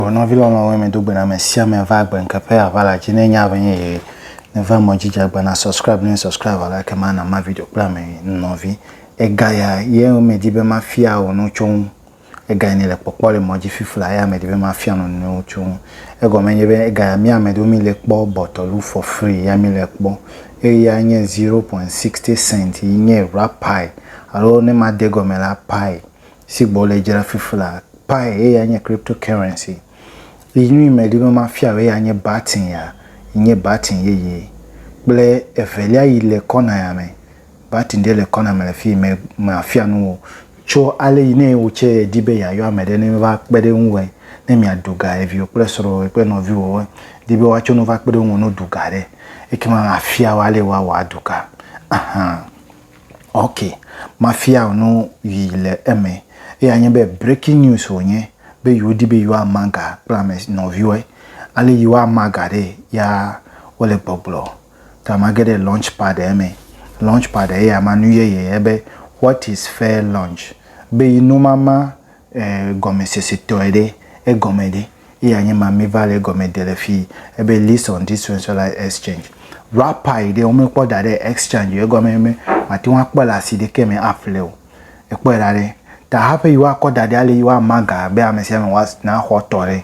O nɔvi lɔlɔ̃wo, mi do gbe na ame sia ame va gbe ŋke ƒe aʋa la dzi. Ne nya ʋe nye ye, ne va mɔ dzi dza gbe na subscribe ne subscribe la ke ma na ma video kple ame nɔvi. Ega ya ye o me di be ma fia o no tso ŋu. Ega ya ne le kpɔkpɔ le mɔ dzi fifi la ya me di be ma fia no no tso ŋu. Ega me nye be ega ya mi ame do mi le kpɔ bɔtɔlu for free ya mi le kpɔ. Eye ya nye 0.60 cent yi nye rap pie. Alo ne ma de gɔme la pie. si gbɔ le dzra fifla pi eya nye crypto currency yi nyui me ɖi be ma fia o eya nye batin ya yi nye batin yeye kple evelia yi le kɔna ya me batin ɖe le kɔna me le fi me ma fia nu wo tso ale yi ne wo tse di be ya yɔ ame ɖe ne va kpe ɖe ŋu we ne mia ɖu ga eviwo kple srɔ wo kple nɔvi wo di be wa tso nu va kpe ɖe ŋu no ɖu ga ɖe eke ma ma fia wo ale wa wa ɖu ga ahan. Ok, mafia wò nu yi le eme. Eya nye be breaking news wònye be yewodi be yewoama ga kple ame nɔviwɔe. Ale yewoama ga ɖee ya wole gbɔgblɔ. Ta mage ɖe launch pad eme. Launch pad eya ma nu yeye ebe what is fair launch be yi noma ma E, gɔmesesetɔe ɖe, egɔme ɖe, eya nye ma mi va le egɔme de le fii, ebe list on this centralized exchange. Wrapper yi ɖe wo me kpɔ da ɖe exchange o, egɔme nye be ma te ŋu a kpɔe le asi ɖekɛ me a ƒle o. E kpɔe ɖa ɖe, ta haƒe yi wa kɔ da ɖe ale yi wa ma ga be amesiame wa na xɔ tɔ ɖe.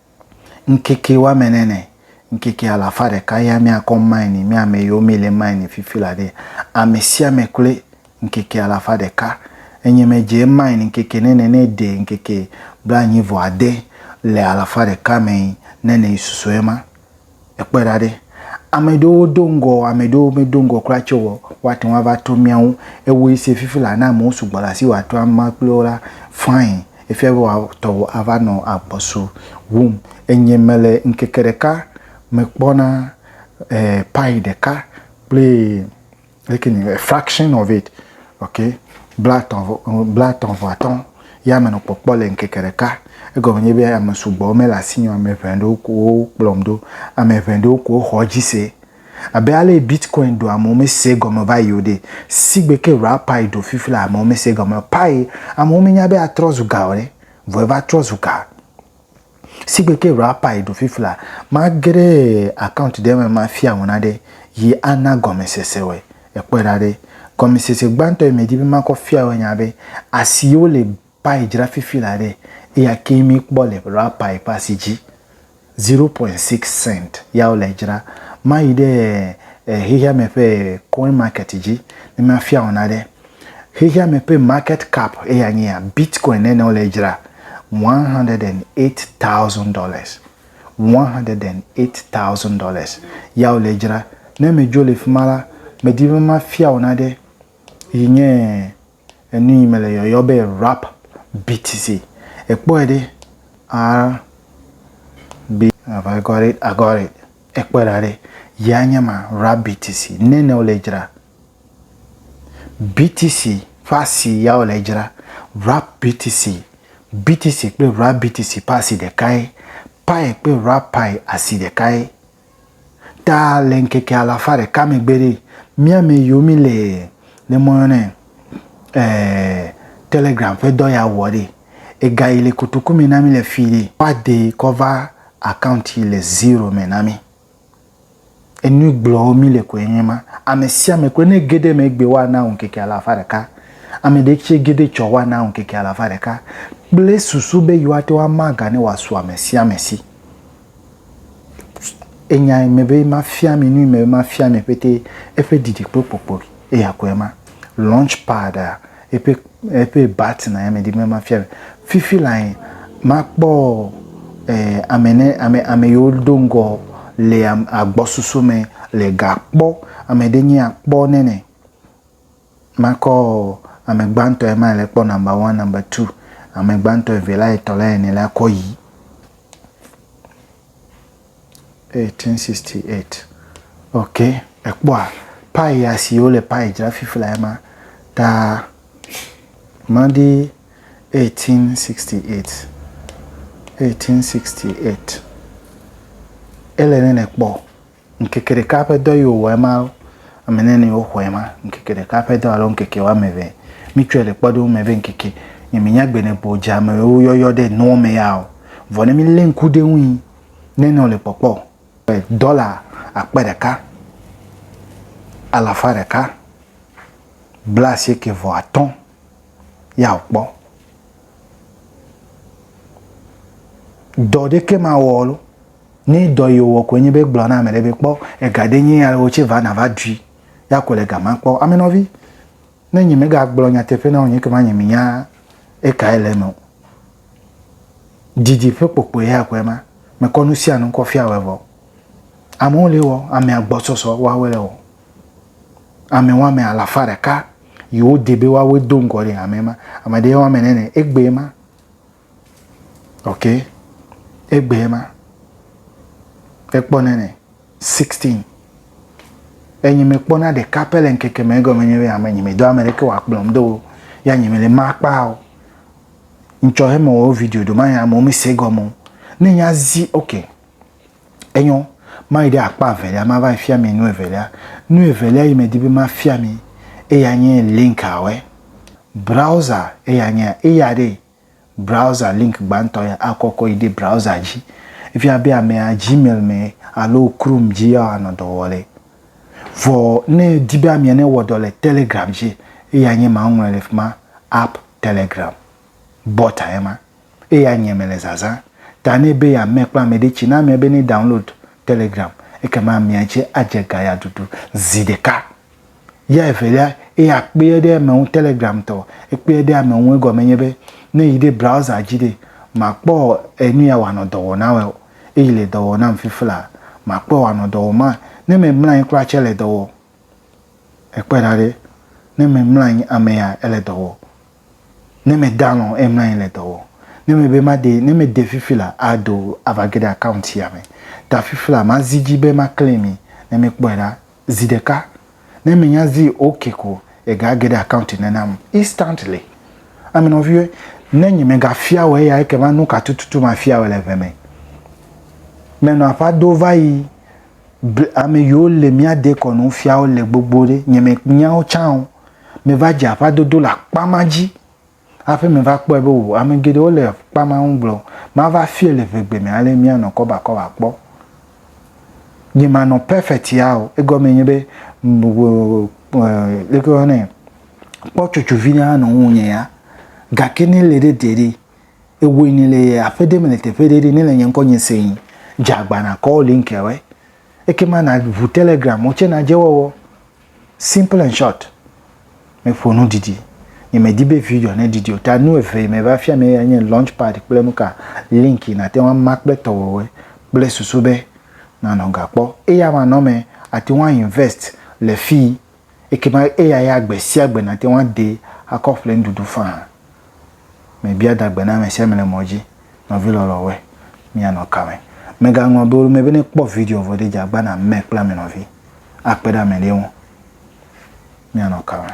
Ŋkeke woame ne ne, ŋkeke alafa ɖeka ya míakɔ mine, mí ame yiwo míle mine fifi la ɖe, ame sia ame kloe ŋkeke alafa ɖeka. Enye medze mine ŋkeke ne ne ne ɖe ŋkeke blaenyi vɔ ade le alafa ɖeka me ne ne susɔe ma. ekpɔe ɖa ɖe, ame ɖewo do ŋgɔ, ame ɖewo medo ŋgɔ kura tsɛ o, woate ŋu ava trɔ mía ŋu. Ewɔe se fifi la, ne amewo sugbɔ le asiwò atrɔ ame kple wo la, fine, efia be wòa, tɔwò ava nɔ agbɔsu wum. Enye mele ŋkeke ɖeka me kpɔna eh, payi ɖeka kple. leke ni a fraction of it okay bla tɔn bla tɔn vɔ atɔ ya me no kpɔkpɔ le nkeke ɖeka egɔme nye be ame sugbɔ me la si ame ʋɛ ɖo ko kplɔm do ame ʋɛ ɖo ko xɔ dzi se abe ale bitcoin do ame me se gɔme va yi o de si gbe ke ra pai do fifi la ame me se gɔme pai ame me nya be atrɔ zu ga o le vɔ va trɔ zu ga Sigbe ke rapper yi ɖo fifla, magere account ɖe me mafia ŋu naɖe yi ana gɔmesese wɔe. Ekpɔe ɖa ɖe. Gɔmesese gbãtɔ yi medi be makɔ fia wɔe nya be asi yi wole pie dzra fifila ɖe, eya ke mi kpɔ le rapper yi ƒe asi dzi. Zero point six cent ya wole edzra. Mayi ɖe xexeame ƒe coin market dzi ne mafia ŋu naɖe. Xexea me ƒe market cap eya nyea Bitcoin nene wole dzra, one hundred and eight thousand dollars, one hundred and eight thousand dollars ya wole dzra. Ne medzo le fima la, medi be mafia wò nane yi nye enu yi mele yɔyɔ be rap beats. Ekpɔe ɖe R B have I got it? I got it. Ekpɔe ɖa ɖe ya nye ma rap beats nene wole dzra. BTC ƒe asi ya wole dzra. Wrap BTC, BTC kple Wrap BTC ƒe asi ɖekae. Pi kple Wrap Pi asi ɖekae. Ta le ŋkeke alafa ɖeka megbe ɖe, mía me yiwo mi le ne mɔ yɔnɛ eh, Telegram ƒe dɔ ya wɔ ɖe. Ega yi le kotoku me na mi le fi ɖe. Woade kɔ va account yi le zero me na mi. Enu gblɔɔ mí le koe nye ma, Ame sia ame koe ne ge ɖe eme egbee woana wò ŋkeke alafa ɖeka. Ame ɖe tse ge ɖe etsɔ woana wò ŋkeke alafa ɖeka kple susu be yewoate ŋu ama ga ne wòasu ame sia ame si. Enya yi me be mafia mi, nu yi me be mafia mi ƒetee, eƒe didikpokpokpoe, eya koe ma. Launchpad-a, Eƒe, eƒe button a ya medi be mafia mi. Fifi lae makpɔ eh, ame ne, ame, ame yiwo do ŋgɔ le am, agbɔsusu me le ga kpɔ. Ame ɖe nye akpɔ nene. Makɔ ame gbãtɔ ya ma le kpɔ number one, number two. Ame gbãtɔ, evelia, etɔ̃lia, enelia kɔ yi. 1868. Ok, ekpɔa payi ya si wole payi dzra fifi la ma ta madi 1868. 1868. Ele ne nekpɔ ŋkeke ɖeka ƒe dɔ yi wòwɔ ema ame ne ne woxɔe ma ŋkeke ɖeka ƒe dɔ alo ŋkeke woame eve. Mitsɔe le kpɔɖeŋu me be ŋkeke nye menya gbe ne bo dze amewo yɔyɔ ɖe nuwo me ya o. Vɔ ne milé ŋku ɖe eŋui Nenɔ le kpɔkpɔ e dɔla akpe ɖeka alafa ɖeka blaasieke vɔ atɔ̃ ya o kpɔ. Dɔ ɖeke ma wɔ lo. Ne dɔ yi wɔ koe nye be gblɔ na ame ɖe be kpɔ ega ɖe nye ya le wotse va na va ɖui ya ko le gama kpɔ. Amenɔvi. Ne nyemegagblɔ nyateƒe na wò nye ekema nyemenya ekae le eme o. Didi ƒe kpokpoe ya koe ma. Mekɔ nu sia nu kɔ fia wòe vɔ. Amewo li wɔ, ame agbɔsɔsɔ woawoe le wɔ. Ame woame alafa ɖeka yi wode be woawoe do ŋgɔ ɖi le hamea me. Ame ɖee woame ene le egbee ma. Ok, egbee ma. Ekpɔnɛ ne 16. Enyi me kpɔna ɖeka pɛ le ŋkeke me egɔme nye be ame nyi me do ame ɖeke wa kplɔm do ya nyi me le ma kpa o. Ŋtsɔ he me wo video do ma ya mo me se gɔme. Ne nya zi ok. Enyo ma yi ɖe akpa velia ma va fia mi nu evelia. Nu evelia yi me di be ma fia mi eya nye link awe. Browser eya nye eya ɖe Browser link gbãtɔ ya akɔkɔ yi ɖe browser dzi. Efia be amea Gmail me alo Chrome dzi yewoanɔ dɔ wɔ le. Vɔ ne edi be amea newɔ dɔ le Telegram dzi, eya nye ma woŋlɔe le fima, App Telegram. Bɔta ye ma. Eya nye mele zazã ta nɛ be yeame kple ameɖe tsi na amea be ne download Telegram ekema amea tse adze ga ya ɖuɖu zi ɖeka. Ya evelia, eya kpeɛ ɖe eme ŋu Telegram tɔ, ekpeɛ ɖe ame ŋu egɔme nye be, ne yi ɖe browser dzi ɖe, makpɔ enu ya wòanɔ dɔ wɔ na wɛ o. Eyi le dɔ wɔ nam fifila, makpɔe wòanɔ dɔ wɔm ma. Ne memlɔ anyi kura tsɛ ele dɔ wɔ. Ekpɔe ɖa ɖe, ne memlɔ anyi ame ya ele dɔ wɔ. Ne mede alɔ o emlɔ anyi le dɔ wɔ. Ne mebe made, ne mede fifila ado ava ge ɖe account ya me. Ta fifila mazi dzi be ma claim yi. Ne mekpɔe ɖa, zi ɖeka ne me nya zi ok ko ega geɖe account ne nam instantly ame nɔviwo ne nye me ga fia wɔ eya eke ma nu ka tututu ma fia wɔ le ʋe me me nɔ aƒa do va yi ame yiwo le mia de kɔ nu fia wɔ le gbogbo ɖe nye me nya wo can o me va dze aƒa dodo le akpa ma dzi Hafi meva kpɔe be o, ame geɖewo le kpa ma ŋu gblɔ, Mava fie le ʋegbe me ale míanɔ kɔbakɔba kpɔ. Nye manɔ perfect ya o, egɔmee nye be, leke woyɔ nɛ, kpɔ tsotso vi ɖe anɔ ŋunye ya. Gake ne ele ɖe te ɖe, ewɔe ni le aƒe ɖe me le teƒe ɖe ɖe, ne le nye ŋkɔ nye sẽe, dze agbana call link-a wɛ. ekema na ʋu telegram mo tse na dje wɔwɔ simple and short me ƒo nu ɖiɖi nye me di be video ne ɖiɖi o ta nu eve yi me va fia me ya nye launch pad kple nuka link yi na te ŋu ama kple tɔ wɔwɔe kple susu be na nɔ ga kpɔ eya ma nɔ me ati ŋu a invest le fi Ekema eya ya gbe sia gbe nàte ŋu adee akɔ ƒle nuɖuɖu faa. Mebia da gbe na ame sia ame le mɔ dzi, nɔvi lɔlɔ̃woe, míanɔ ka me? Mègaŋlɔ be wole eme be ne èkpɔ video vɔ ɖe dzi agbã nàmee kple ame nɔvi akpe ɖe ame ɖe ŋu. Míanɔ ka me?